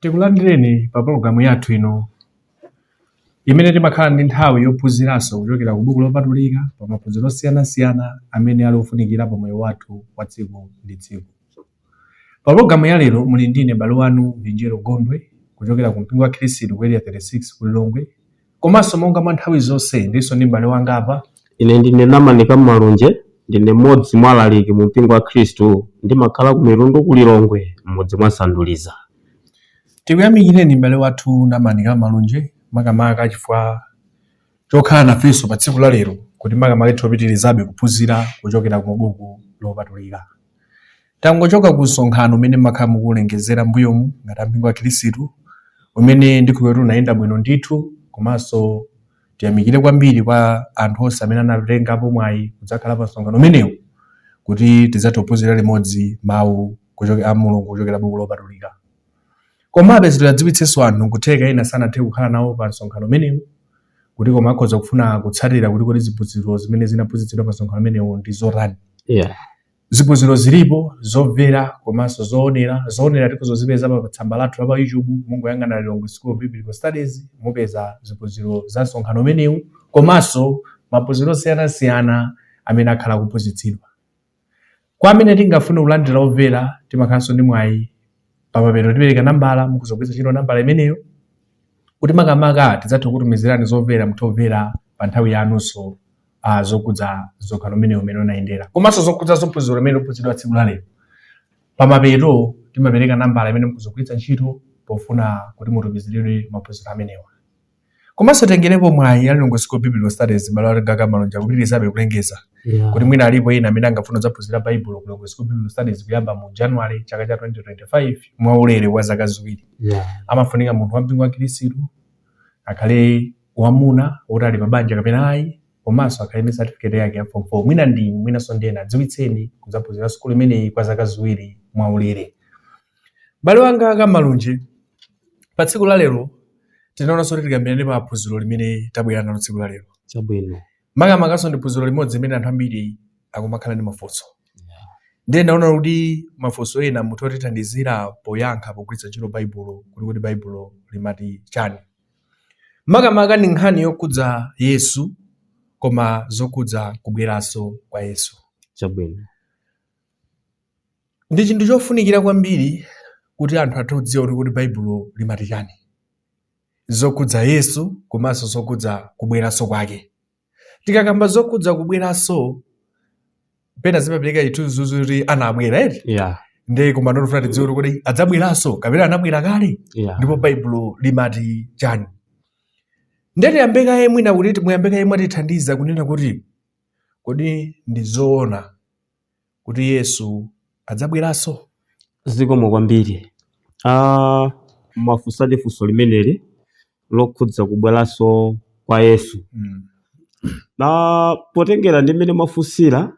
tikulandireni pa pologalamu yathu ino imene timakhala ndi nthawi yophunziranso kuchokera ku buku lopatulika pa maphunziro osiyanasiyana amene ali ofunikira pa moyo wathu wa tsiku ndi tsiku pa pologalamu ya lero muli ndine m'bale wanu vinjero gondwe kuchokera ku mpingo wa khristu ku area 36 ku lilongwe Komanso monga mwa nthawi zonse, ndilinso ndi m'bale wanga apa. Ine ndine Namanika Mmalunje. Ndine mmodzi mwa alaliki mu mpingo wa Khristu. Ndimakhala ku Mitundu ku Lilongwe, m'mudzi mwa Sanduliza. Tikuyamikireni m'bale wathu Namanika Mmalunje makamaka chifukwa chokhala nafenso pa tsiku la lero kuti makamaka tipitirizabe kuphunzira kuchokera ku buku lopatulika. Tangochoka ku msonkhano umene timakhala tikuulengezera m'mbuyomu ngati ampingo wa Khilisitu, umene ndi kuti unayenda bwino ndithu, komanso tiyamikire kwambiri kwa anthu onse amene anatengapo mwayi kudzakhala pa msonkhano umenewu kuti tidzathe kuphunzira limodzi mawu kuchoke- a Mulungu kuchokera buku lopatulika. Komabe tidziwitsenso anthu nkutheka ena sanathe kukhala nawo pa msonkhano umenewu kuti koma akhoza kufuna kutsatira kuti kodi ziphunzitso zimene zinaphunzitsidwa pa msonkhano umenewu ndi zotani. Yeah. Ziphunziro zilipo zomvera komanso zoonera. Zoonera tikhoza kuzipeza pa tsamba lathu la pa YouTube, mungoyang'ana Lilongwe School of Biblical Studies, mupeza ziphunziro za msonkhano umenewu komanso maphunziro osiyanasiyana amene akhala akuphunzitsidwa. Kwa amene tingafune kulandira omvera, timakhalanso ndi mwayi pamapeto tipereka nambala mukhoza kugwiritsa ntchito nambala imeneyo kuti makamaka tidzathe kutumizirani zomvera muthe kumvera pa nthawi yanunso uh, zokudza msonkhano umenewu mmene unayendera komanso zokudza ziphunziro zimene zinaphunziridwa tsiku limenelo pamapeto timapereka nambala imene mukhoza kugwiritsa ntchito pofuna kuti mutumiziridwe maphunziro amenewa komanso titengerepo mwayi wa Lilongwe School of Biblical Studies m'bale wanga Kammalunje kupitirizabe kulengeza Yeah. kuti mwina alipo ena amene angafune kudzaphunzira Baibulo ku Lilongwe School of Biblical Studies kuyamba mu January chaka cha 2025 mwa ulere wa zaka ziwiri Yeah. amafunika munthu wampingo wa Khristu akhale wamuna woti ali pabanja kapena ayi komanso akhale ndi certificate yake ya form 4 mwina ndi mwinanso ndi ena adziwitseni kudzaphunzira sukulu imeneyi kwa zaka ziwiri mwa ulere mbale wanga kammalunje pa tsiku la lero tinaonanso kuti tikambirane pa phunziro limene tabwera nalo tsiku la lero chabwino makamakanso ndi phunziro limodzi limene anthu ambiri akumakhala ndi mafunso ndiye ndaona kuti mafunso ena mutha kutithandizira poyankha pogwiritsa ntchito baibulo kuti kodi baibulo limati chani makamaka ndi nkhani yokhudza yesu koma zokhudza kubweranso kwa yesu chabwino Ndi chinthu chofunikira kwambiri kuti anthu athe kudziwa kuti Baibulo limati chani zokhudza Yesu komanso zokhudza kubweranso kwake. Tikakamba zokhudza kubweranso pena zimapereka chithunzithunzi kuti anabwera eti yeah. ndiye koma ndofuna tidziwe kuti adzabweranso kapena anabwera kale yeah. ndipo baibulo limati chani ndiye tiyambe kaye mwina kuti muyambe kaye mwatithandiza kunena kuti kodi ndi zoona kuti Yesu adzabweranso? Zikomo kwambiri. Aaa mwafunsadi funso limeneli lokhudza kubweranso kwa Yesu. Mm. Na potengera ndi mmene mwafunsira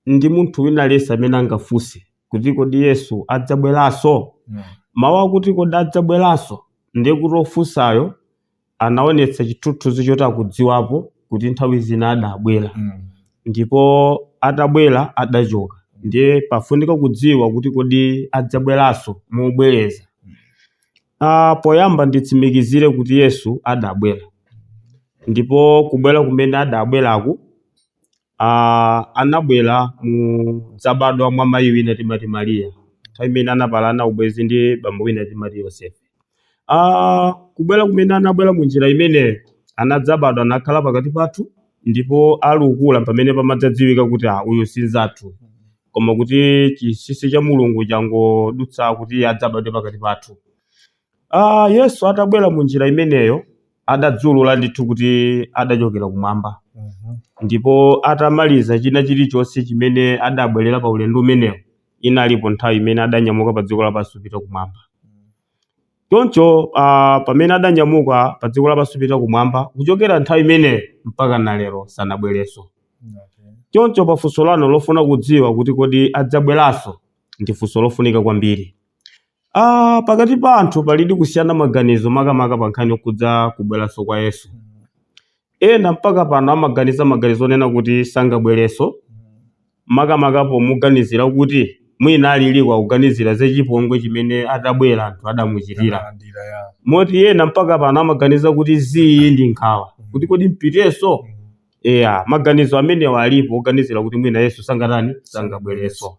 ndi munthu wina aliyense amene angafunse kuti kodi Yesu adzabweranso? Mm. Mawu akuti kodi adzabweranso ndiye kuti ofunsayo anaonetsa chithunzithunzi choti akudziwapo kuti nthawi zina adabwera Mm. ndipo atabwera adachoka ndiye pafunika kudziwa kuti kodi adzabweranso mobwereza ah, poyamba nditsimikizire kuti yesu adabwera ndipo kubwera kumene adabweraku a anabwera modzabadwa mwa mayi wina timati Maria nthawi imene anapalana ubwenzi ndi bambo wina timati Yosefe a kubwera kumene anabwera mu njira imeneyo anadzabadwa anakhala pakati pathu ndipo ali ukula pamene pamadzadziwika kuti a uyu si nzathu koma kuti chinsinsi cha mulungu changodutsa kuti adzabadwe pakati pathu Ah, Yesu atabwera mu njira imeneyo adadziulula ndithu kuti adachokera kumwamba Mhm. ndipo atamaliza china chilichonse chimene adabwerera pa ulendo umenewo inalipo nthawi imene adanyamuka pa dziko lapansi kupita kumwamba choncho ah, pamene adanyamuka pa dziko lapansi kupita kumwamba kuchokera nthawi imeneyo mpaka na lero sanabwerenso Okay. choncho pa funso lanu lofuna kudziwa kuti kodi adzabweranso ndi funso lofunika kwambiri Ah, pakati pa anthu palidi kusiyana maganizo makamaka pa nkhani yokhudza kubweranso kwa yesu ena mpaka pano amaganiza maganizo onena kuti sangabwerenso makamaka pomuganizira kuti mwina aliliko akuganizira za chipongwe chimene atabwera anthu adamuchitira Analandira ya. moti ena mpaka pano amaganiza kuti zii ndi nkhawa kuti kodi mpitenso eya maganizo amenewa alipo oganizira kuti mwina yesu sangatani sangabwerenso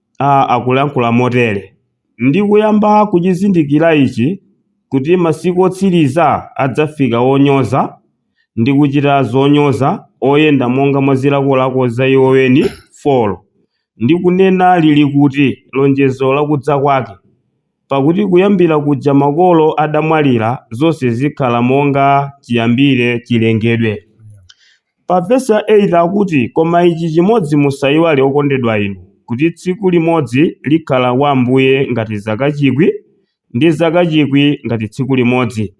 a akulankhula motere, Ndi kuyamba kuchizindikira ichi, kuti masiku otsiriza adzafika onyoza, ndi kuchita zonyoza, oyenda monga mwa zilakolako za iwo eni, 4 Ndi kunena, Lili kuti lonjezo la kudza kwake? Pakuti kuyambira kuja makolo adamwalira, zonse zikhala monga chiyambire chilengedwe. Pa vesi ya 8 akuti, Koma ici cimodzi musaiwale, okondedwa inu, kuti tsiku limodzi likhala kwa Ambuye ngati zaka cikwi, ndi zaka cikwi ngati tsiku limodzi.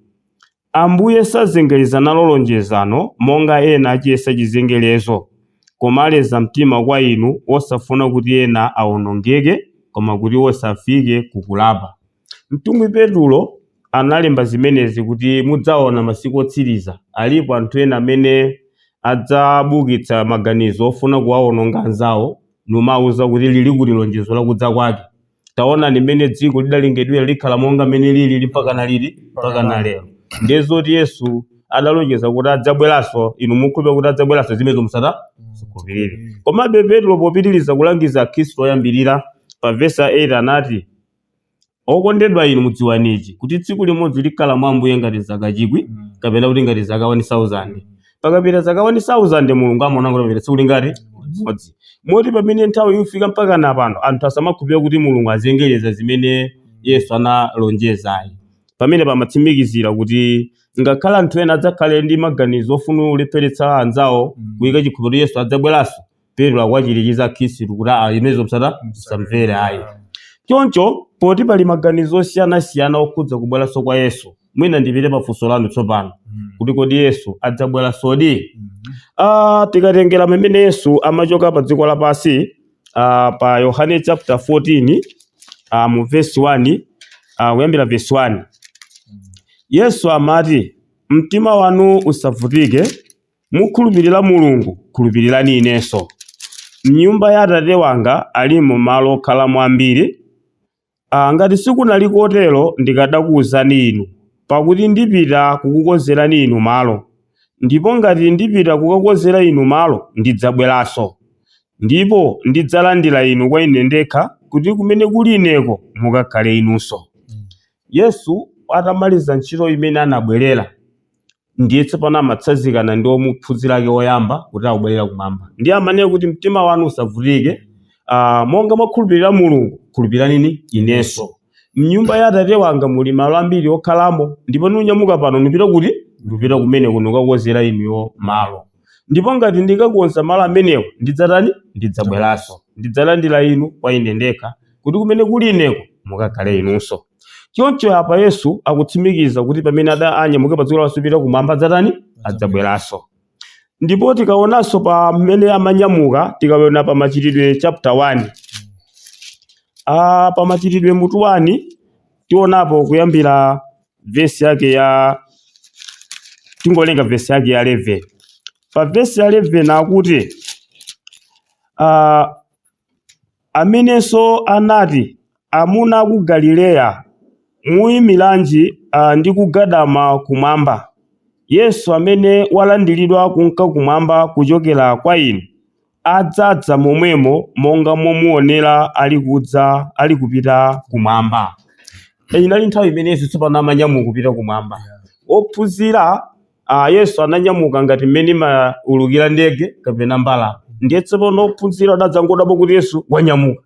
Ambuye sazengereza nalo lonjezo, monga ena aciyesa cizengerezo, koma aleza mtima kwa inu, wosafuna kuti ena aonongeke, koma kuti wonse afike kukulapa. Mtumwi Petulo analemba zimenezi kuti mudzaona masiku otsiriza. Alipo anthu ena amene adzabukitsa maganizo ofuna kuwawononga anzawo, nkumawauza kuti, Lili kuti lonjezo la kudza kwake? Taonani mmene dziko lidalengedwera, likhala monga mmene lilili mpakana liti? Mpakana lero. Ndiye zoti Yesu adalonjeza kuti adzabweranso, inu mukhulupirira kuti adzabweranso zimenezo musazikhulupirire. Komabe Petulo popitiriza kulangiza Akhristu oyambirira, pavesi 8 anati, Okondedwa inu, mudziwani ichi, kuti tsiku limodzi likhala mwa Ambuye ngati zaka chikwi, kapena kuti ngati zaka wani sauzande. Pakapita zaka wani sauzande, Mulungu amaona ngati papita tsiku lingati? Limodzi. Moti pamene nthawi ifika mpakana pano, anthu asamakhulupirire kuti Mulungu azengereza zimene Yesu analonjeza ayi. Pamenepa amatsimikizira kuti ngakhale anthu ena adzakhale ndi maganizo ofuna kulepheretsa anzawo kuyika chikhulupiriro kuti Yesu adzabweranso, petulo akuwachirikiza akhristu kuti aa zimenezo msata msazimvere ayi choncho poti pali maganizo osiyanasiyana okhudza kubweranso kwa yesu mwina ndipite pa funso lanu tsopano Mm. kuti kodi yesu adzabweransodi Mhm. Ah, tikatengera mmene yesu amachoka pa dziko lapansi ah, pa yohane chapter 14 ah, mu verse 1 ah, kuyambira verse 1 yesu amati mtima wanu usavutike Mukhulupirira Mulungu, khulupirirani Inenso. M'nyumba ya Atate wanga alimo malo okhalamo ambiri. Aa, ngati sikunali kotero ndikadakuuzani inu, pakuti ndipita kukukonzerani inu malo. Ndipo ngati ndipita kukakonzera inu malo, ndidzabweranso, ndipo ndidzalandira inu kwa Ine ndekha, kuti kumene kuli Ineko mukakhale inunso. Yesu atamaliza ntchito imene anabwerera. ndiye tsopano amatsanzikana ndi omuphunzira ake oyamba kuti akubwerera kumwamba ndiye amanena kuti mtima wanu usavutike uh, monga mwakhulupirira mulungu khulupirirani inenso mnyumba ya atate wanga muli malo ambiri okhalamo ndipo nunyamuka pano nupita kuti ndipita kumeneku nukakukonzerani inuyo malo ndipo ngati ndikakonza malo amenewo ndidzatani ndidzabweranso ndidzalandira inu kwa ine ndekha kuti kumene kuli ineko mukakhale inunso choncho apa yesu akutsimikiza kuti pamene ada anyamuke pa dziko lapansi kupita kumwamba adzatani adzabweranso ndipo tikaonanso pa mmene amanyamuka tikaona pa machitidwe chapter 1 ah, pa machitidwe mutu 1 tionapo kuyambira vesi yake ya tingowerenga vesi yake ya 11 pa vesi ya 11 akuti uh, amenenso anati amuna a ku galileya muyimiranji uh, ndi kugadama kumwamba yesu amene walandiridwa kunka kumwamba kuchokera kwa inu adzadza momwemo monga momuonera alikudza alikupita kumwamba inali nthawi imene yesu tsopano amanyamuka kupita kumwamba ophunzira a yesu ananyamuka ngati mmene imaulukira ndege kapena mbalame ndiye tsopano ophunzira adadzangodabwa kuti yesu wanyamuka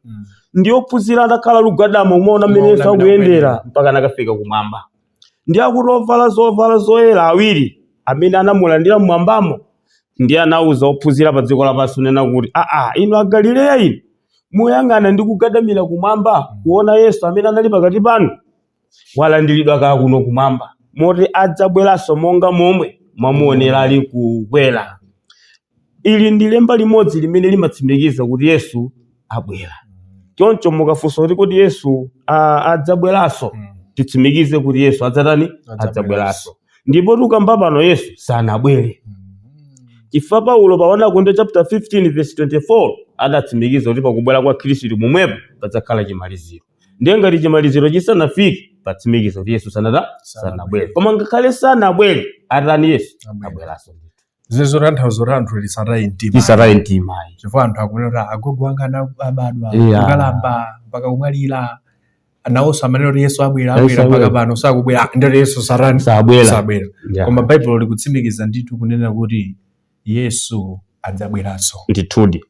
ndi ophunzira adakhala kugadama kumaona mmene yesu akuyendera mpaka anakafika kumwamba ndiye akuti ovala zovala zoyera awiri amene anamulandira m'mwambamo ndiye anauza ophunzira pa dziko lapansi kunena kuti aa inu agalileya inu muyang'ana ndi kugadamira kumwamba kuona yesu amene anali pakati panu walandiridwa kale kuno kumwamba moti adzabweranso monga momwe mwamuonera ali kukwera Ili ndi lemba limodzi limene limatsimikiza kuti Yesu abwera. Choncho mukafunsa kuti kodi Yesu a, adzabweranso, titsimikize kuti Yesu adzatani? Adzabweranso. Adzabweranso. Ndipo tukamba pano Yesu sanabwere. Chifukwa Paulo pa 1 Akorinto chapter 15 verse 24 adatsimikiza kuti pakubwera kwa Khristu momwepo padzakhala chimaliziro. Ndiye ngati chimaliziro chisanafike patsimikiza kuti Yesu sanatani sanabwere. Koma ngakhale sanabwere atani Yesu Abwera. abweranso. zimene zotanthauza kuti anthu asataye mtima tisataye mtima ayi. chifukwa anthu akunena kuti agogo anga ana- abadwa Yeah. kukalamba mpaka kumwalira nawonso amanena kuti yesu abwera Yesu abwera mpaka abwera. pano sakubwera Ah, ndiye kuti yesu satani sabwera sabwera Yeah. koma baibulo likutsimikiza ndithu kunena kuti yesu adzabweranso ndithudi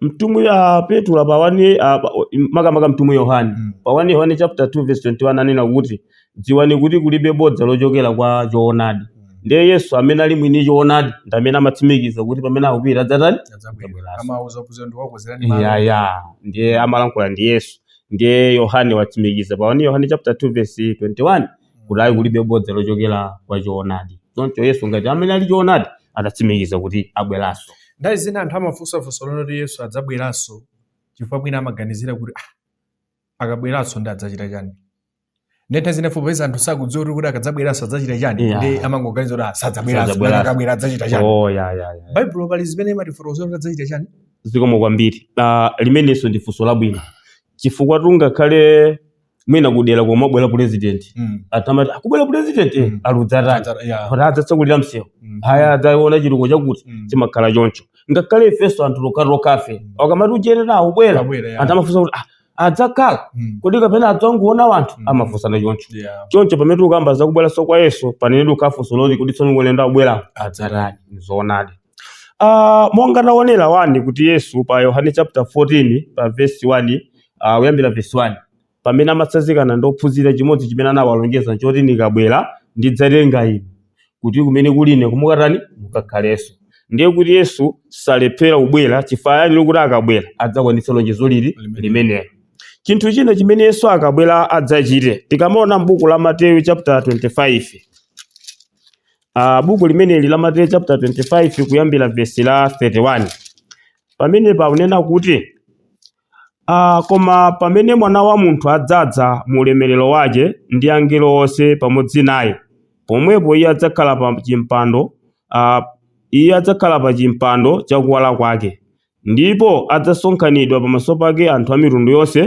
mtumwi a petro pa 1 a- pa- makamaka mtumwi yohane Mm. pa 1 yohane chapter 2 verse 21 anena kuti dziwani kuti kulibe bodza lochokera kwa choonadi ndiye yesu amene ali mwini choonadi ndi amene amatsimikiza kuti pamene akupita adzatani adzabwera amauza kudza ndikakukonzerani malo yaya ndiye amalankhula ndi yesu ndiye yohane watsimikiza pa 1 yohane chapter 2 verse 21 kuti ayi kulibe bodza lochokera kwa choonadi choncho yesu monga amene ali choonadi adatsimikiza kuti abweranso nthawi zina anthu amafunsa funso lonena kuti yesu adzabweranso chifukwa mwina amaganizira kuti ah, akabweranso ndiye adzachita chani ndiye nthawi zina popeza anthu sakudziwa kuti kodi akadzabweranso adzachita chani Yeah. ndiye amangoganiza kuti ah, sadzabweranso Sadzabweranso. nanga akabwera adzachita chani oh, ya, ya, ya. baibulo pali zimene imatifotokozera kuti adzachita chani zikomo kwambiri uh, limenenso ndi funso labwino chifukwa tungakhale mwina kudera komwe abwera pulezidenti Mm. anthu amati akubwera pulezidenti Mm. aludzatani Adzata- yeah. kuti adzatsekulira msewu Mm. haya adzaona chituko chakuti Mm. chimakhala choncho ngakhale ifenso anthu okhaokhafe Mm. akamati uje akubwera Akubwera, yeah. anthu amafunsa kuti "Ah, adzakhala Mm. kodi kapena adzangoona anthu Mm. amafunsana choncho Yeah. choncho pamene ukamba zakubweranso kwa yesu pamene ukafunsa zoti kuti tsono ulendo abwera adzatani zoonadi Ah, monga taonera kani kuti yesu pa yohane chapter 14 pa vesi 1 uh, kuyambira verse 1 pamene amatsazikana ndi ophunzira chimodzi chimene anawalonjeza choti ndikabwera ndidzatenga inu kuti kumene kuli ine mukatani mukakhalenso ndiye kuti yesu salephera kubwera chifukwa yaniyo kuti akabwera adzakwanitsa lonjezo lili Limenelo. limenelo chinthu china chimene yesu akabwera adzachite tikamaona m'buku la mateyu chapter 25 uh, buku limeneli la mateyu chapter 25 kuyambira vesi la 31 pamene paunena kuti Aa, koma pamene mwana wa munthu adzadza mu ulemerero wace, ndi angelo onse pamodzi naye, pomwepo iye adzakhala pa cimpando, aa, iye adzakhala pa cimpando ca kuwala kwake, ndipo adzasonkhanidwa pamaso pake anthu a mitundu yonse,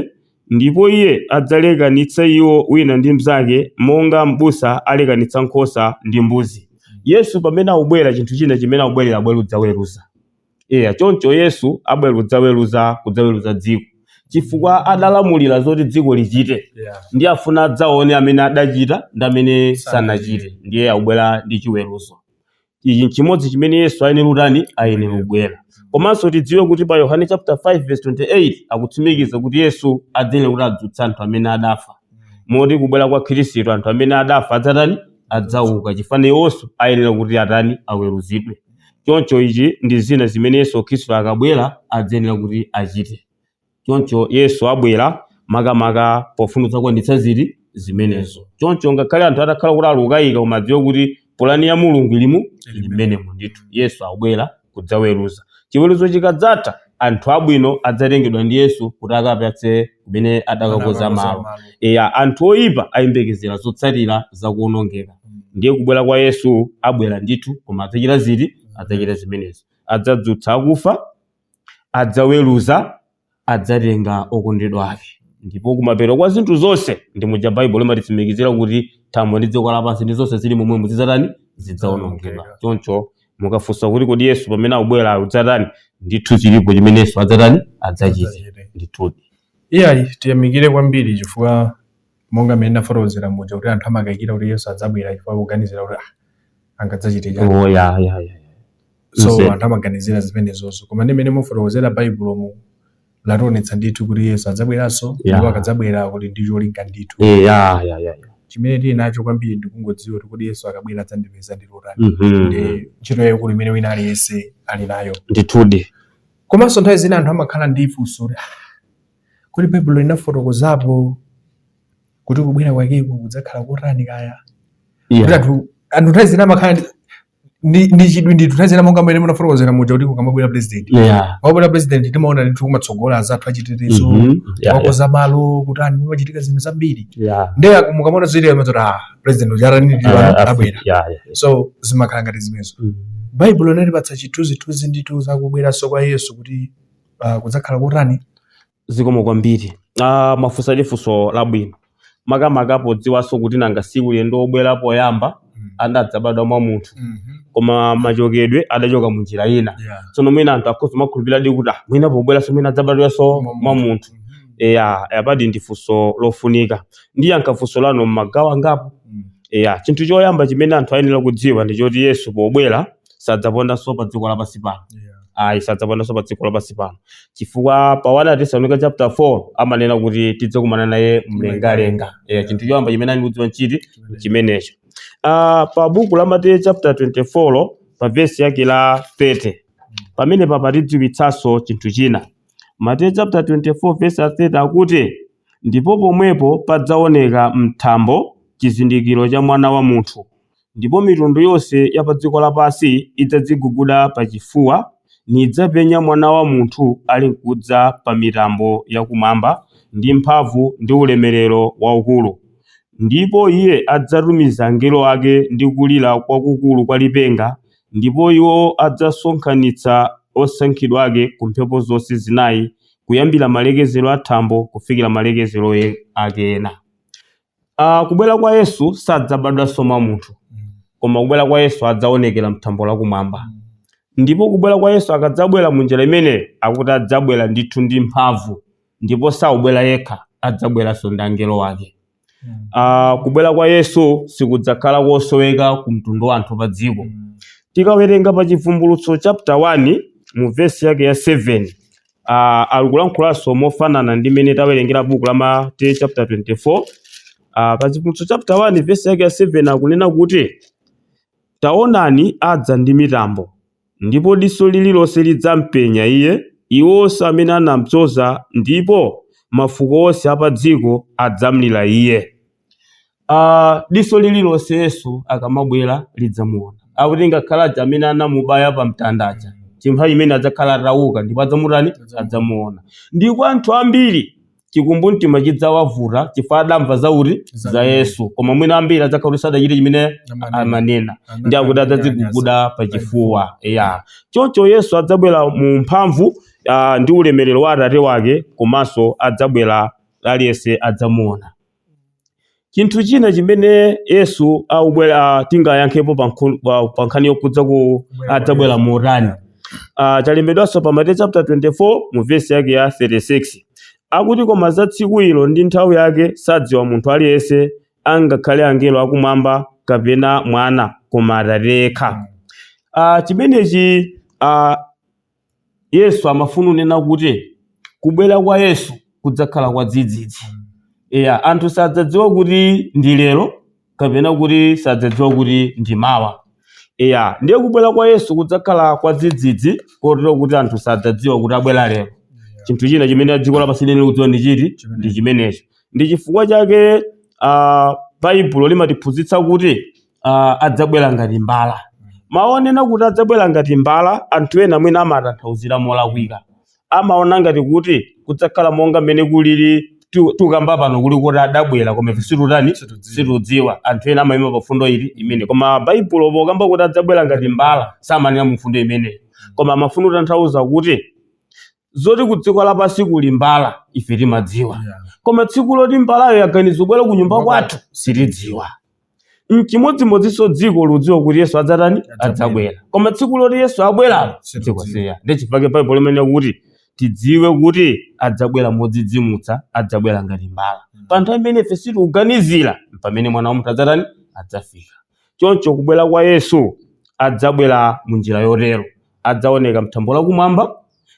ndipo iye adzalekanitsa iwo wina ndi mnzake monga mbusa alekanitsa nkhosa ndi mbuzi. Yesu pamene akubwera, chinthu china chimene akubwerera abwera kudzaweruza. Eya, choncho Yesu abwera kudzaweruza kudzaweruza dziko chifukwa adalamulira zoti dziko lichite Yeah. ndiye afuna adzaone amene adachita ndi amene sanachite ndiye akubwera ndi chiweruzo ichi nchimodzi chimene yesu ayenera kutani ayenera kubwera komanso tidziwe kuti pa yohane chapter 5 verse 28 akutsimikiza kuti yesu adzayenera kuti adzutsa anthu amene adafa moti kubwera kwa khristu anthu amene adafa adzatani adzauka chifukwa iwonso ayenera kuti atani aweruzidwe Choncho izi ndi zina zimene Yesu Khristu akabwera adzayenera kuti achite. Choncho Yesu abwera makamaka pofuna kudzakwaniritsa ziti zimenezo. Choncho ngakhale anthu atakhala kuti ali kukayika koma adziwe kuti pulani ya Mulungu ili mu ili mmenemo ndithu. Yesu abwera kudzaweruza. Chiweruzo chikadzatha anthu abwino adzatengedwa ndi Yesu kuti akapatse kumene adakakonza malo eya anthu oyipa ayembekezera zotsatira za kuonongeka ndiye kubwera kwa yesu abwera ndithu koma adzachita ziti adzachita zimenezo adzadzutsa akufa adzaweruza adzatenga okondedwa ake ndipo kumapeto kwa zinthu zonse ndi muja baibulo limatitsimikizira kuti thambo ndi dziko lapansi ndi zonse zili momwemo zidzatani zidzaonongedwa choncho mukafunsa kuti kodi yesu pamene akubwera adzatani ndithu chilipo chimene yesu adzatani adzachita ndithudi iyayi tiyamikire kwambiri chifukwa monga mmene ndafotokozera muja kuti anthu amakayikira kuti yesu adzabwera chifukwa kuganizira kuti ah, angadzachite chani oh, ya, ya, ya. so anthu amaganizira zimenezozo koma ndi mmene mufotokozera baibulomu lationetsa ndithu kuti yesu adzabweranso Yeah. ndipo akadzabwera kuti ndi cholinga ndithu Eh, ya ya ya ya. chimene tili nacho kwambiri ndikungodziwa kuti kodi yesu akabwera adzandipeza ndili otani Mhm. ndi ntchito yayikulu imene wina aliyense ali nayo ndithudi komanso nthawi zina anthu amakhala ndi funso kuti "Ah, kodi baibulo linafotokozapo kuti kubwera kwakeko kudzakhala kotani kaya kuti ya anthu anthu nthawi zina amakhala ndi- ndi ndi chidwi ndithu nthawi zina monga mmene munafotokozera muja kuti kukamabwera president yeah wabwera president timaona ndithu kumatsogolako azathu achitetezo Mhm. Yeah, yeah. akonza malo kuti anthu pamachitika zinthu zambiri yeah nde mukamaona zija mumati ah president uja atani ndi Ah, ah, abwera yeah yeah so zimakhala ngati zimenezo Mhm. baibulo linatipatsa chithunzithunzi ndithu zakubweranso kwa yesu kuti ah, kudzakhala kotani zikomo kwambiri ah, mafunsa ili funso labwino makamaka podziwanso kuti nanga si ulendo obwera poyamba Mm. adadzabadwa mwa munthu Mhm. koma machokedwe adachoka mu njira ina Yeah. tsono mwina anthu akhoza kumakhulupiriradi kuti ah, mwina pobweranso mwina adzabadwanso Mwa mwa munthu. munthu Mhm. eya apadi ndi funso lofunika ndiyankha funso lanu mmagawo angapo Mm. eya chinthu choyamba chimene anthu ayenera kudziwa ndi choti yesu pobwera sadzapondanso pa dziko lapansi pano Yeah. ayi sadzapondanso pa dziko lapansi pano chifukwa pa 1 atesalonika chapter 4 amanena kuti tidzakumana naye mlengalenga yeah, chinthu choyamba chimene ayenera kudziwa nchimene chimenecho Ah, pa buku la mateyu chapter 24 pa vesi yake la 30 pamene pakutidziwitsanso chinthu china mateyu chapter 24 vesi ya 30 akuti ndipo pomwepo padzaoneka mthambo chizindikiro cha mwana wa munthu Ndipo mitundu yonse ya pa dziko lapansi idzadziguguda pachifuwa, nidzapenya Mwana wa munthu alinkudza pa mitambo ya kumwamba ndi mphamvu ndi ulemerero waukulu. Ndipo iye adzatumiza angelo ake ndi kulira kwakukulu kwa lipenga, ndipo iwo adzasonkhanitsa osankhidwa ake ku mphepo zonse zinayi, kuyambira malekezero a thambo kufikira malekezero ake ena. Ah, kubwera kwa yesu sadzabadwanso mwa munthu koma kubwera kwa yesu adzaonekera mthambo lakumwamba ndipo kubwera kwa yesu akadzabwera mu njira imene akuti adzabwera ndithu ndi mphamvu ndipo saubwera yekha adzabweranso ndi angelo wake Ah, kubwera kwa yesu sikudzakhala kosoweka ku mtundu wa anthu pa dziko tikawerenga pa chivumbulutso chapter 1 mu vesi yake ya 7 a alikulankhulanso mofanana ndi mmene tawerengera buku la Mateyu chapter 24 a pa Chivumbulutso chapter 1 verse yake ya 7 akunena kuti taonani adza ndi mitambo ndipo diso lililonse lidzampenya iye iwo onse amene anampyoza ndipo mafuko onse a pa dziko adzamlira iye a diso lililonse Yesu akamabwera lidzamuona. Akuti ngakhale amene anamubaya pa mtanda aja, pa nthawi imene adzakhala atauka ndipo adzamutani adzamuona. Ndipo anthu ambiri chikumbumtima chidzawavuta chifukwa adamva za uti Za za Iye. Yesu, koma mwina ambiri adzakhala sadachite chimene Amanena. amanena ndiye akuti adzadziguguda pa chifuwa ya choncho yesu adzabwera mu mphamvu ah, ndi ulemerero wa atate wake komanso adzabwera aliyense adzamuona Chinthu china chimene Yesu akamabwera tingayankhepo pa nkhu- pa- pa nkhani yokhudza kuti adzabwera motani Ah, chalembedwanso pa Mateyu chapter 24 mu vesi yake ya 36 akuti koma za tsiku ilo ndi nthawi yake sadziwa munthu aliyense angakhale angelo akumwamba kapena mwana koma atate yekha Ah, chimenechi ah, Yesu amafuna kunena kuti kubwera kwa Yesu kudzakhala kwa dzidzidzi. Eya, anthu sadzadziwa kuti ndi lero kapena kuti sadzadziwa kuti ndi mawa. Eya, ndiye kubwera kwa Yesu kudzakhala kwa dzidzidzi kotero kuti anthu sadzadziwa kuti abwera lero. Chinthu china chimene dziko lapansi liyenera kudziwa ndi chiti? Ndi chimenecho. Ndi chifukwa chake ah, Baibulo limatiphunzitsa kuti ah, adzabwera ngati mbala mawu onena kuti adzabwera ngati mbala anthu ena mwina amatanthauzira molakwika amaona ngati kuti kudzakhala monga mmene kulili tu- tukamba pano kuli kuti adabwera koma ife situtani Situdziwa. situdziwa anthu ena amayima pa mfundo imeneyi koma baibulo pokamba kuti adzabwera ngati mbala samanena mu mfundo imeneyo koma amafuna kutanthauza kuti zoti ku dziko lapansi kuli mbala ife timadziwa Yeah. koma tsiku loti mbalayo yaganiza kubwera ku nyumba kwathu sitidziwa mchimodzimodzinso dziko likudziwa kuti yesu adzatani adzabwera koma tsiku loti yesu abweralo dziko silidziwa ndi chifukwa chake baibulo limenena kuti tidziwe kuti adzabwera modzidzimutsa adzabwera ngati mbala pa nthawi imene ife sitikuganizira pamene mwana wa munthu adzatani adzafika choncho kubwera kwa yesu adzabwera mu njira yotero adzaoneka mthambo lakumwamba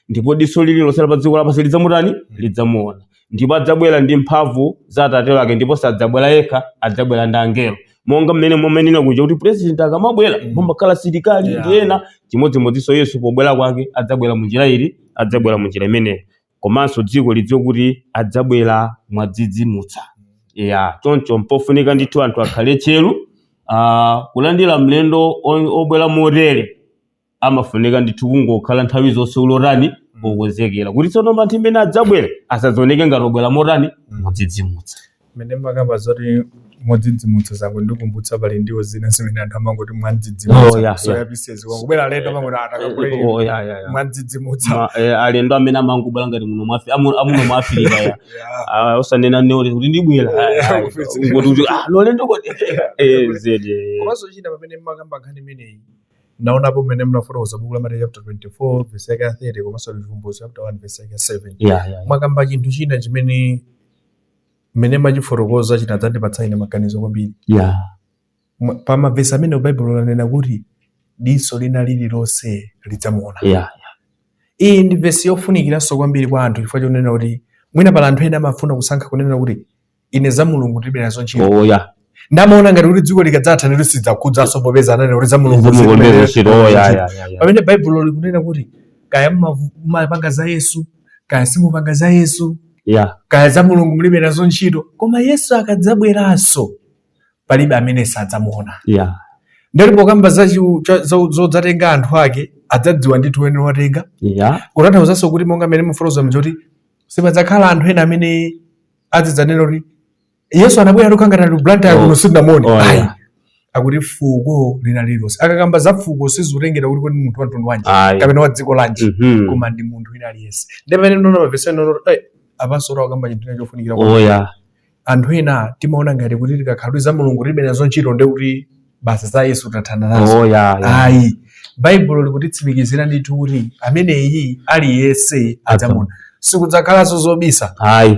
ndipo diso lililonse la pa dziko lapansi lidzamutani lidzamuona ndipo adzabwera ndi mphamvu za atate wake ndipo sadzabwera yekha adzabwera ndi angelo monga mmene mumanenera muja kuti purezidenti akamabwera Mm. mumakhala asilikali Yeah. ndi ena chimodzimodzinso yesu pobwera kwake adzabwera mu njira iti adzabwera mu njira imeneyo komanso dziko lidziwe kuti adzabwera modzidzimutsa ya choncho mpofunika ndithu anthu akhale tcheru ah, kulandira mlendo o- obwera motere amafunika ndithu kungokhala nthawi zonse uli otani okonzekera kuti tsono anthu amene adzabwere asadzioneke ngati obwera motani modzidzimutsa mmene mmakamba zoti modzidzimutsa zangondikumbutsa pali ndiwo zina zimene anthu amangoti Oh, yeah, mwandzidzimutsa yeah. soya pieces angobwera alendo amangoti atakakule Oh, yeah, yeah, yeah. mwandzidzimutsa Ma- eh, alendo amene amangobwera ngati muno mwa Afi- amu- amuno mwa Africa ya Ah, osanena n'komwe kuti ndibwera Ah, ah, angoti kuti ah, alendo kodi Eh, zedi eh. komanso china pamene mmakamba nkhani imeneyi naonapo mmene munafotokoza buku la mateyu chapter 24 vesi yake ya 30 komanso chivumbulutso chapter 1 vesi yake ya 7 yeah, yeah. mwakamba chinthu china chimene mmene mmachifotokoza chinadzandipatsa ine maganizo kwambiri yeah. Mwa- pa mavesi amenewa baibulo lanena kuti diso lina lililonse lidzamuona yeah. iyi ndi vesi yofunikiranso kwambiri kwa anthu chifukwa chonena kuti mwina pali anthu ena amafuna kusankha kunena kuti ine za mulungu ndilibe nazo ntchito oya ndiye amaona ngati kuti dziko likadzatha ndiye sizidzawakhudzanso popeza ananena kuti za mulungu Mulungu alibe nazo ntchito oya ntchito. ya ya ya pamene baibulo likunena kuti kaya mumavu- mumapanga za yesu kaya simupanga za yesu ya kaya za mulungu mulibe nazo ntchito koma yesu akadzabweranso palibe amene sadzamuona ya ndipo pokamba za chiu- cha- za- zodzatenga anthu ake adzadziwa ndithu amene watenga ya kutanthauzanso kuti monga mmene mukufotokoza n'choti sipadzakhala anthu ena amene azidzanena kuti yesu anabwera tinkakhala Blantyre kuno sindinamuone Oh, Ayi. yeah. akuti fuko lina lililonse akakamba za fuko sizikutengera kuti kodi munthu wa mtundu wanji Ayi. kapena wa dziko lanji Mhm. koma ndi munthu wina aliyense ndiye pamene ndinaona mavesiwa ndinaona kuti apanso akukamba chinthu china chofunikira kwa oya anthu ena timaona ngati kuti tikakhala kuti za mulungu tilibe nazo ntchito ndiye kuti basi za Yesu tathana nazo oh, yeah, yeah. ayi Baibulo likutitsimikizira ndithu kuti ameneyi aliyense adzamuona sikudzakhalanso zobisa ayi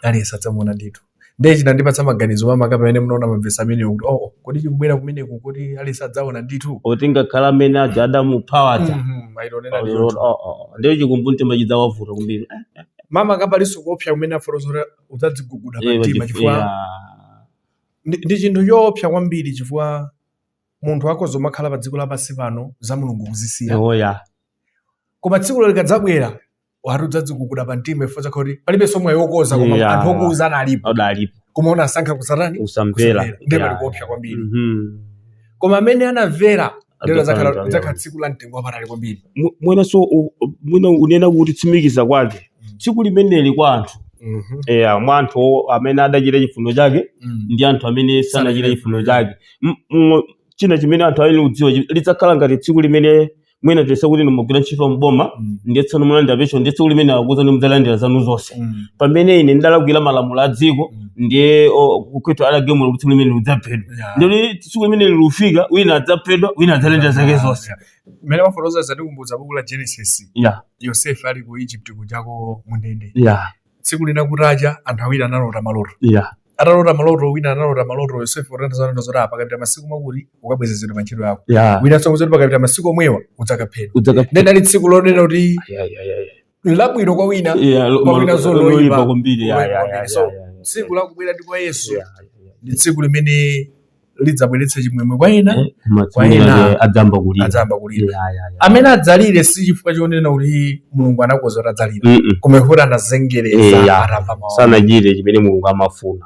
aliyense adzamuona ndithu ndiye chinandipatsa maganizo makamaka pamene ndinaona mavesi amenewa kuti oh, oh kodi ndi kubwera kumeneku kuti aliyense adzaona ndithu kuti ngakhale amene aja adamupha aja mm-hmm, oh, oh, oh, ndiye chikumbumtima chidzawavuta kwambiri eh, eh, eh. makamaka palinso kuopsa kumene afotokozera adzadziguguda pamtima chifukwa Ndi chinthu choopsa kwambiri chifukwa munthu akhoza kumakhala pa dziko lapansi pano za Mulungu kuzisiya. Oh, yeah. Koma tsikulo likadzabwera akuti udzadziguguda pa mtima chifukwa kudzakhala kuti palibenso mwayi wokonza koma yeah. anthu okuuza analipo adalipo koma unasankha kusatani, kusamvera ndiye pali yeah. kuopsa kwambiri mm -hmm. koma amene anamvera Ndilo Idzakhala lidzakhala- nthawi lidzakhala yabwino. tsiku la mtengo wapatali kwambiri Mu- mwinanso u- u- mwina kunena kutsimikiza kwake tsiku limeneli kwa anthu Mhm. eya mwa anthu o- amene adachita chifuniro chake Mm. ndi anthu amene sanachita chifuniro chake M- m- china chimene anthu ayenera kudziwa chi- lidzakhala ngati tsiku limene mwina tiyese kuti inu mukugwira ntchito mboma Mm. ndiye tsono mukulandira pension ndiye tsiku limene akuuzani mudzalandira zanu zonse Mm. pamene ine ndidalakwira malamulo a dziko ndiye o- kukwetu adagamula kuti tsiku limene udzaphedwa Yeah. ndiye tsiku limene likufika wina adzaphedwa wina adzalandira zake zonse mmene mwafotokoza zatikumbutsa buku la genesis ya yosefe ali ku egypt kujako mundende ya tsiku lina kutacha anthu awiri analota maloto ya atalota maloto wina analota maloto yosefe utanthauza zoti apa pakapita masiku makuti ukabwezeretsedwa pa ntchito yako ya wina nso kuti pakapita masiku omwewa udzakaphedwa udzakaphedwa ndiye linali tsiku lonena kuti Ya, ya, ya, ya. labwino kwa wina Yeah, lo- kwa wina zo- loyipa loyipa kwambiri, yeah, yeah, yeah, so yeah, yeah, yeah. tsiku lakubwera ndi kwa yesu Yeah, yeah, yeah. ndi tsiku limene lidzabweretsa chimwemwe kwa ena Eh, koma Kwa tsiku ena- lake adzayamba kulira adzayamba kulira Yeah, yeah, yeah. amene adzalire si chifukwa chonena kuti mulungu anakonza kuti adzalire Mm-mm. koma kuti anazengereza Eya. atamva mawu sanachite chimene mulungu amafuna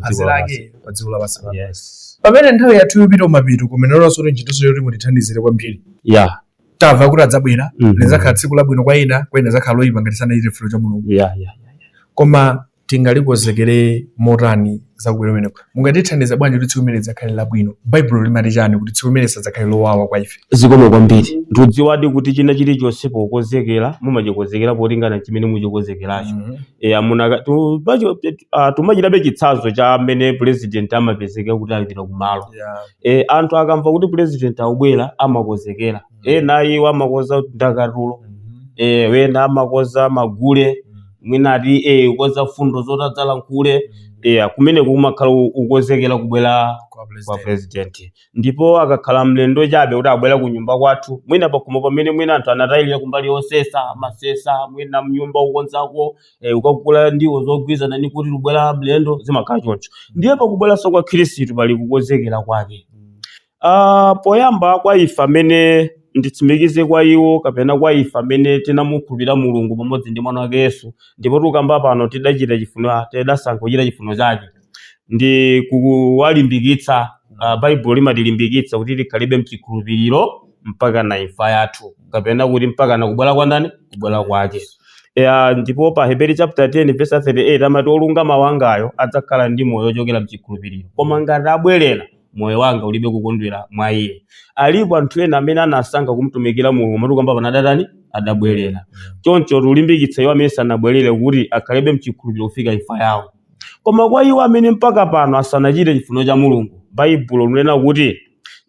phazi lake pa dziko lapansi pano yes pamene nthawi yathu ikupita kumapeto kumenenso kuti ntchitonso yoti mutithandizire kwambiri yeah tamva kuti adzabwera Mhm. lidzakhala tsiku labwino kwa ena kwa ena lidzakhala loyipa ngati sanachite chifuniro cha mulungu yeah yeah koma tingalikonzekere motani zakubwera kumeneko mungatithandiza bwanji kuti tsiku limene lidzakhale labwino baibulo limati chani kuti tsiku limene lisadzakhale lowawa kwa ife zikomo kwambiri mukudziwadi kuti china chilichonse pokonzekera mumachikonzekera polingana chimene muchikonzekeracho eya munaka tu- pacho- tet- ah, tumachitabe chitsanzo cha mmene president amapezeka kuti apita kumalo yeah. e, anthu akamva kuti president akubwera amakonzekera Mm. ena iwo amakonza ndakatulo Mhm. e, ena amakonza magule Mm. mwina ati e, ukonza mfundo zoti adzalankhule Mm. e, kumeneko kumakhala u- ukonzekera kubwera Kwa kwa president. president ndipo akakhala mlendo chabe kuti abwera ku nyumba kwathu mwina pakhomo pamene mwina anthu anatayirira kumbali yosesa amasesa mwina mnyumba ukonzako eh, ukagula ndiwo zogwirizana ni kuti kubwera mlendo zimakhala choncho ndiye pakubweranso kwa khristu pali kukonzekera kwake Ah, poyamba kwa ife amene nditsimikize kwa iwo kapena kwa ife amene tinamukhulupirira mulungu pamodzi ndi mwana wake yesu ndipo tikamba pano tidachita chifuniro tidasankha kuchita chifuniro chake ndi kuwalimbikitsa. Ah, Baibulo limatilimbikitsa kuti tikhalebe mchikhulupiriro mpakana imfa yathu, kapena kuti mpakana kubwera kwa ndani? Kubwera kwake. Ya, ndipo pa Heberi chapter 10 verse 38 amati olungama wangayo adzakhala ndi moyo ochokera mchikhulupiriro, koma ngati abwerera moyo wanga ulibe kukondwera mwa iye. Alipo anthu ena amene anasankha kumtumikira Mulungu moti tikukamba pano adatani? Adabwerera. Choncho tulimbikitsa iwo amene sanabwerere kuti akhalebe mchikhulupiriro kufika imfa yawo. Koma kwa iwo amene mpaka pano asanachite chifuniro cha Mulungu, Baibulo likunena kuti,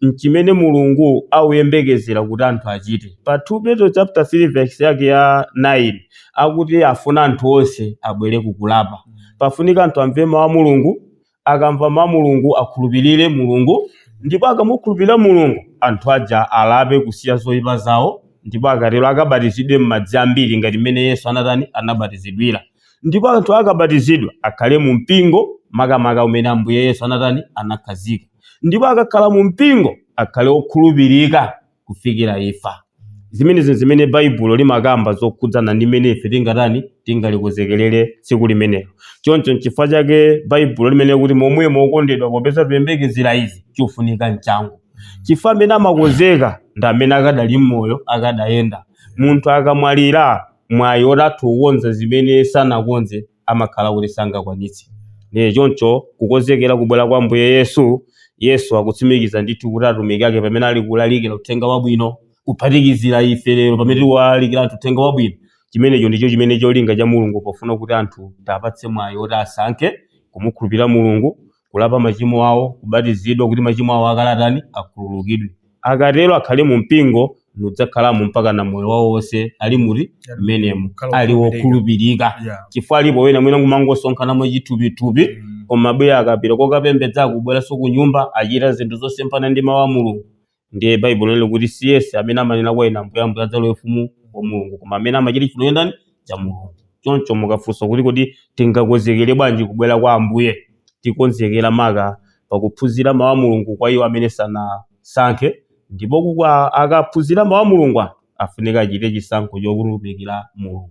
Nchimene Mulungu akuyembekezera kuti anthu achite. Pa 2 Petro chapter 3 verse yake ya 9 akuti afuna anthu onse abwere ku kulapa. Pafunika anthu amve mawu a Mulungu, akamva mawu a Mulungu akhulupirire Mulungu, ndipo akamukhulupirira Mulungu, anthu aja alape kusiya zoipa zawo, ndipo akatero akabatizidwe m'madzi ambiri ngati mmene Yesu anatani, anabatizidwira. ndipo anthu akabatizidwa akhale mu mpingo makamaka umene ambuye yesu anatani anakhazika ndipo akakhala mu mpingo akhale okhulupirika kufikira imfa zimenezi zimene baibulo limakamba zokhudzana ndi mmene ife tingatani tingalikonzekerere tsiku limenelo choncho nchifukwa chake baibulo linena kuti momwemo okondedwa popeza tiyembekezera izi chofunika nchangu chifukwa amene amakonzeka ndi amene akadali mmoyo akadayenda munthu akamwalira mwayi woti atha kukonza zimene sanakonze amakhala kuti sangakwanitse. Ndiye choncho kukonzekera kubwera kwa Ambuye Yesu, Yesu akutsimikiza ndithu kuti atumiki ake pamene ali kulalikira uthenga wabwino, kuphatikizira ife lero pamene tikuwalalikira anthu uthenga wabwino. Chimenecho ndicho chimene cholinga cha Mulungu pofuna kuti anthu tiwapatse mwayi woti asankhe kumukhulupirira Mulungu, kulapa machimo awo, kubatizidwa kuti machimo awo akale atani? Akhululukidwe. Akatero akhale mu mpingo nikudzakhalamo mpaka na moyo wawo wonse ali muri Ali mmenemo ali wokhulupirika. wokhulupirika Yeah. chifukwa alipo ena mwina kumangosonkhana mwachithupithupi Mm. koma bweya akapita kukapembedza kubweranso ku nyumba achita zinthu zosemphana ndi mawu a mulungu ndiye baibulo linena kuti si yense amene amanena kwa ine ambuye ambuye adzalowe ufumu wa mulungu koma amene amachita chifuniro cha ndani cha mulungu choncho mukafunsa kuti kodi tingakonzekere bwanji kubwera kwa ambuye tikonzekera maka pakuphunzira mawu a mulungu kwa iwo amene sanasankhe ndipo kuka- akaphunzira mawu a mulungu anthu afunika achite chisankho chokhulupirira mulungu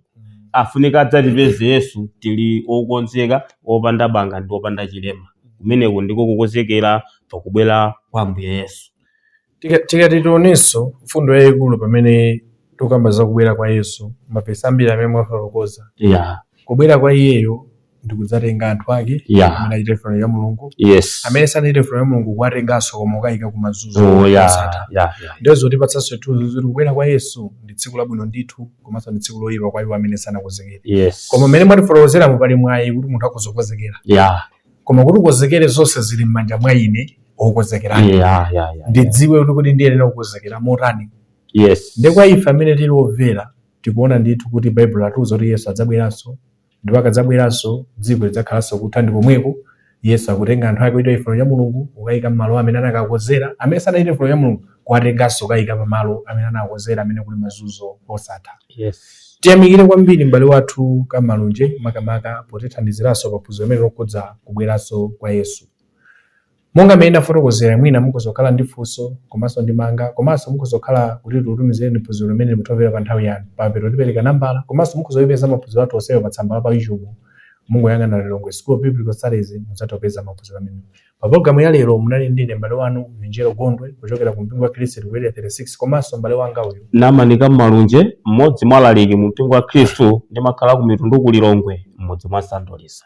afunika adzatipeze yesu tili okonzeka opanda banga ndi opanda chilema kumeneko ndiko kukonzekera pakubwera kwa ambuye yesu Tika- tikati tionenso mfundo yayikulu pamene tikukamba za kubwera kwa yesu mavesi ambiri amene mwafotokoza yeah. kubwera kwa iyeyo ndikudzatenga anthu ake Yeah. amene achita chifuniro cha mulungu yes amene sanachite chifuniro cha mulungu kuwatenganso koma kukayika kumazunzo Oh, yeah, osatha. yeah, yeah. ndiye zotipatsanso chithunzi zoti kubwera kwa yesu ndi tsiku labwino ndithu komanso ndi tsiku loyipa kwa iwo amene sanakonzekere yes koma mmene mwatifotokozeramu pali mwayi kuti munthu akhoza kukonzekera yeah koma kuti ukonzekere zonse zili m'manja mwa ine wokonzekerayo yeah yeah yeah ndidziwe kuti kuti ndiyenera kukonzekera motani yes ndi kwa ife amene tili omvera tikuona ndithu kuti baibulo latiuza kuti yesu adzabweranso ndipo akadzabweranso dziko lidzakhalanso kutha ndi komweko yesu akutenga anthu ake ochita chifuniro cha mulungu kukayika mmalo amene anakakonzera amene sanachite chifuniro cha mulungu kuwatenganso kukayika pamalo amene anakonzera amene kuli mazunzo osatha yes tiyamikire kwambiri m'bale wathu kamalunje makamaka potithandiziranso paphunziro limeneli lokhudza kubweranso kwa yesu Monga mmene ndafotokozera, mwina mukhoza kukhala ndi funso komanso ndemanga komanso mukhoza kukhala kuti tikutumizireni phunziro limeneli mutomvera pa nthawi yanu. Pamapeto tipereka nambala komanso mukhoza kuipeza maphunziro athu onsewa pa tsamba la pa YouTube. Mungoyang'ana Lilongwe School of Biblical Studies mudzatha kupeza maphunziro amenewa. Pa pulogalamu ya lero munali ndi ine m'bale wanu Vinjero Gondwe kuchokera ku mpingo wa Khristu ku Area 36 komanso m'bale wanga uyu Namanika Malunje, mmodzi mwa alaliki mu mpingo wa Khristu ndimakhala ku Mitundu ku Lilongwe, m'mudzi mwa Sandolisa.